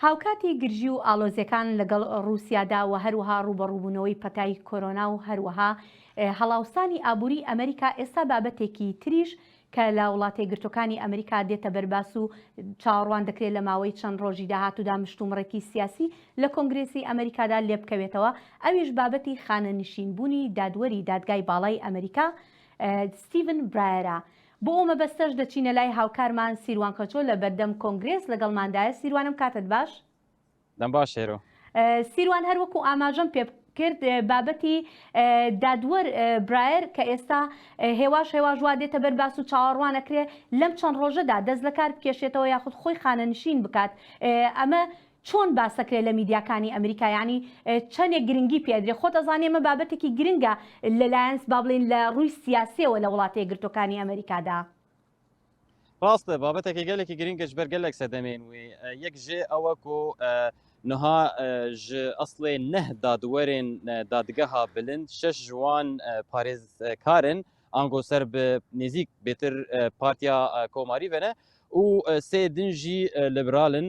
هاوکاتی گرژی و ئاڵۆزیەکان لەگەڵ ڕوسیادا و هەروەها ڕوبەڕوبونەوەی پەتای کۆرۆنا و هەروەها هەڵاوسانی ئابوری ئەمریکا ئێستا بابەتێکی تریش کە لە وڵاتەیەکگرتوەکانی ئەمریکا دێتە بەر باس و چاوەڕوان دەکرێت لە ماوەی چەند ڕۆژی داهاتودا مشتومڕێکی سیاسی لە کۆنگرێسی ئەمریکادا لێبکەوێتەوە ئەویش بابەتی خانەنشین بونی دادوەری دادگای باڵای ئەمریکا ستیڤن برایەرە بۆ ئەو مەبەستەش دەچینە لای هاوکارمان سیروان قەچۆ لە بەردەم کۆنگرێس لەگەڵماندایە، سیروانم کاتت باش؟ دەم باش هێرۆ. سیروان هەر وەکو ئاماژەم پێ کرد بابەتی دادوەر برایەر کە ئێستا هێواش هێواش وا دێتە بەر باس و چاوەڕوان ئەکرێ لەم چەند ڕۆژەدا دەست لەکار بکێشێتەوە یاخود خۆی خانەنشین بکات ئەمە چۆن باسەکرێ لە میدیاکانی ئەمریکا یانی چەنێک گرنگی پێ ئەدرێ خۆت ئەزانی ئەمە بابەتێکی گرنگە لە لایەنس با بڵێن لە ڕووی سیاسیەوە لە وڵاتە یەکگرتوەکانی ئەمریکادا. ڕاستە بابەتەکە گەلێکی گرنگە جبەر گەلێک سەدەمێن وێ یەک ژێ ئەوەک و نها ژ ئەسڵێ نەه دادوەرێن دادگەها بلند شەش ژوان پارێزکارن ئانگۆ سەر نێزیک بێتر پارتیا کۆماری بنە و سێ دنجی لەبرالن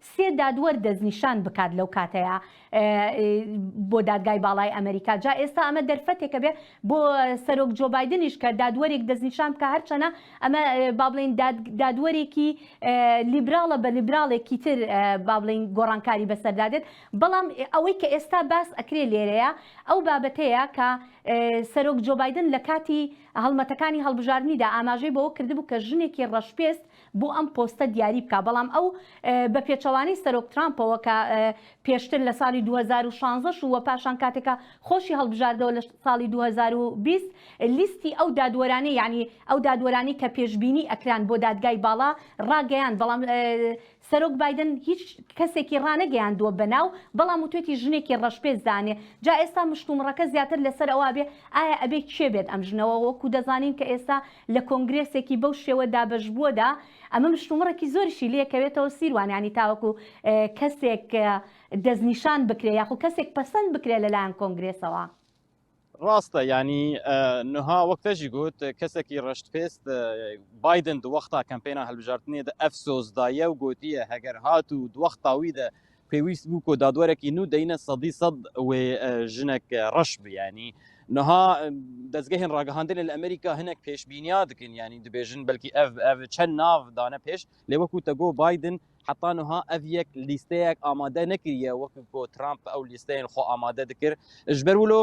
سێ دادوەر دەستنیشان بکات لەو کاتەیا بۆ دادگای باڵای ئەمریکا جا ئێستا ئەمە دەرفەتێکە بێ بۆ سەرۆک جۆبایدنیش کە دادوەرێک دەستنیشان بکە هەرچەنە ئەمە بابلین دادوەرێکی لیبراڵە بە لیبراڵێکی تر بابلین گۆڕانکاری بەسەردادێت بەڵام ئەوەی کە ئێستا باس ئەکرێ لێرەیە ئەو بابەتەیە کە سەرۆک جۆبایدن لە کاتی هەڵمەتەکانی هەڵبژاردنیدا ئاماژەی بەوە کردبوو کە ژنێکی ڕەشپێست بۆ ئەم پۆستە دیاری بکا بەڵام ئەو بە پێچەوانەی سەرۆک ترامپەوە کە پێشتر لە ساڵی 2016 و وە پاشان کاتێکە خۆشی هەڵبژاردەوە لە ساڵی 2020 لیستی ئەو دادوەرانی یعنی ئەو دادوەرانی کە پێشبینی ئەکران بۆ دادگای باڵا ڕاگەیان بەڵام سەرۆک بادن هیچ کەسێکی ڕانەگەیاندووە بەناو بەڵام وتێتی ژنێکی ڕەشپێست دانێ جا ئێستا مشتومڕەکە زیاتر لەسەر ئەوە بێ ئایا ئەبێ کێ بێت ئەم ژنەوە وەکو دەزانین کە ئێستا لە کۆنگرێسێکی بەو شێوە دابەشبووەدا ئەمە مشتومڕێکی زۆریشی لێ کەوێتەوە سیروان یانی تاوەکو کەسێک دەستنیشان بکرێ یاخو کەسێک پەسەند بکرێ لەلایەن کۆنگرێسەوە. ڕاستە یانی نها وەک تەژی گوت کەسێکی ڕەشت پێست بایدن دووەختا کەمپێنا هەلبژاردنێدە ئەف سۆزدایە و گوتیە هەگەر هات و دووەخت تاویدە پێویست بوو کۆ دادوەرەکی نو دەینە سەدی سەد وێ ژنەک ڕەش بیانی نها دەستگەهێن ڕاگەهاندن لە ئەمریکا هەنێک پێشبینیا دکن ینی دبێژن بەلکی ئەف ئەف چەند ناو دانە پێش لێ وەکو تەگۆ بادن حتا نها ئەف یەک لیستەیەک ئامادە نەکریە وەکو بۆ ترامپ ئەو لیستەیەن خۆ ئامادە دکرد ژبەر ولۆ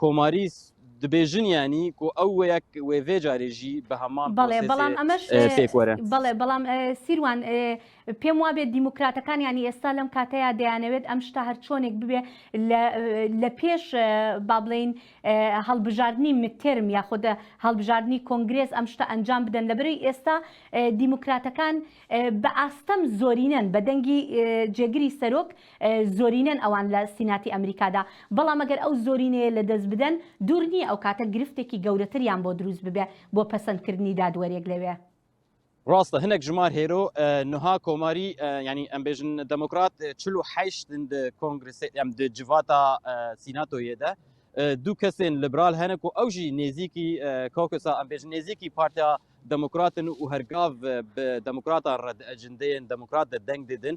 کۆماریس دبێژنیانی کو ئەو وەیەک وێڤێ جارێژی بە هەمان بەڵێ بەڵام ئەمەش بەڵێ بەڵام سیروان پێم وابێت دیموکراتەکانیانی ئێستا لەم کاتەیە دەیانەوێت ئەم شتا هەر چۆنێک ببێ لە پێش با بڵین هەڵبژاردننی مترم یاخود هەڵبژاردننی کۆنگرێز ئەم شتە ئەنجام بدەن لە بری ئێستا دیموکراتەکان بە ئاستەم زۆرینەن بە دەنگی جێگری سەرۆک زۆرینەن ئەوان لە سیناتی ئەمریکادا، بەڵام ئەگەر ئەو زۆرینەیە لەدەست بدەن، دوور نییە ئەو کاتە گرفتێکی گەورەتریان بۆ دروست ببێ بۆ پەسەندکردنی دادوەرێک لەوێ. ڕاستە هەنێک ژمار هێرۆ نها کۆماری یانی ئەمبێژن دەمۆکرات چل و حەیشت د کۆنگرسێ ئەم د جڤاتا سیناتۆ یێدە دوو کەسێن لبرال هەنە کو ئەو ژی نێزیکی کۆکسا ئەمبێژن نێزیکی پارتیا دەمۆکراتن و هەرگاڤ دەمۆکراتا ڕەد ئەجندەیەن دەمۆکرات دە دەنگ ددن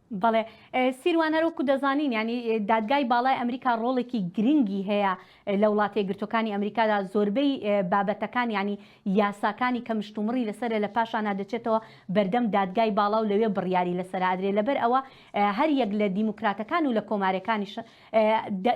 بەڵێ سیروان هەر وەکو دەزانین یانی دادگای باڵای ئەمریکا ڕۆڵێکی گرنگی هەیە لە وڵاتە یەکگرتوەکانی ئەمریکادا زۆربەی بابەتەکان ینی یاساکانی کە مشتومڕی لەسەر لە پاشانا دەچێتەوە بەردەم دادگای باڵا و لەوێ بڕیاری لەسەر ئەدرێ لەبەر ئەوە هەر یەک لە دیموکراتەکان و لە کۆمارەکانیش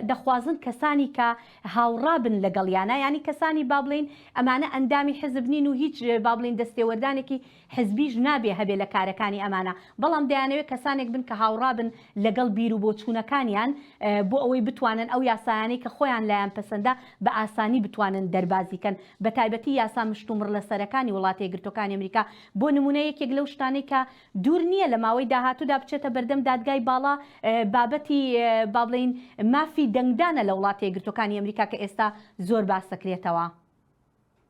دەخوازن کەسانی کە هاوڕابن لەگەڵ یانە ینی کەسانی بابلین ئەمانە ئەندامی حزب نین و هیچ بابلین دەستێوەردانێکی حزبیش نابێ هەبێ لە کارەکانی ئەمانە، بەڵام دەیانەوێ کەسانێک بن کە هاوڕا بن لەگەڵ بیر و بۆچوونەکانیان بۆ ئەوەی بتوانن ئەو یاسایانەی کە خۆیان لایان پەسەندە بە ئاسانی بتوانن دەربازی کەن بە تایبەتی یاسا مشتومڕلەسەرەکانی وڵاتە یەکگرتووەکانی ئەمریکا بۆ نموونە یەکێک لەو شتانەی کە دوور نییە لە ماوەی داهاتوودا بچێتە بەردەم دادگای باڵا بابەتی با بڵێین مافی دەنگدانە لە وڵاتە یەکگرتووەکانی ئەمریکا کە ئێستا زۆر باس دەکرێتەوە.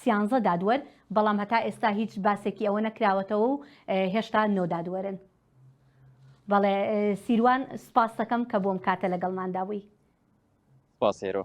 سیانزە دادوەر، بەڵام هەتا ئێستا هیچ باسێکی ئەوە نەکراوەتەوە و هێشتا نۆ دادوەرن. بەڵێ سیروان سپاستەکەم کە بۆم کاتە لەگەڵماندا بووی. سپاس هێرۆ.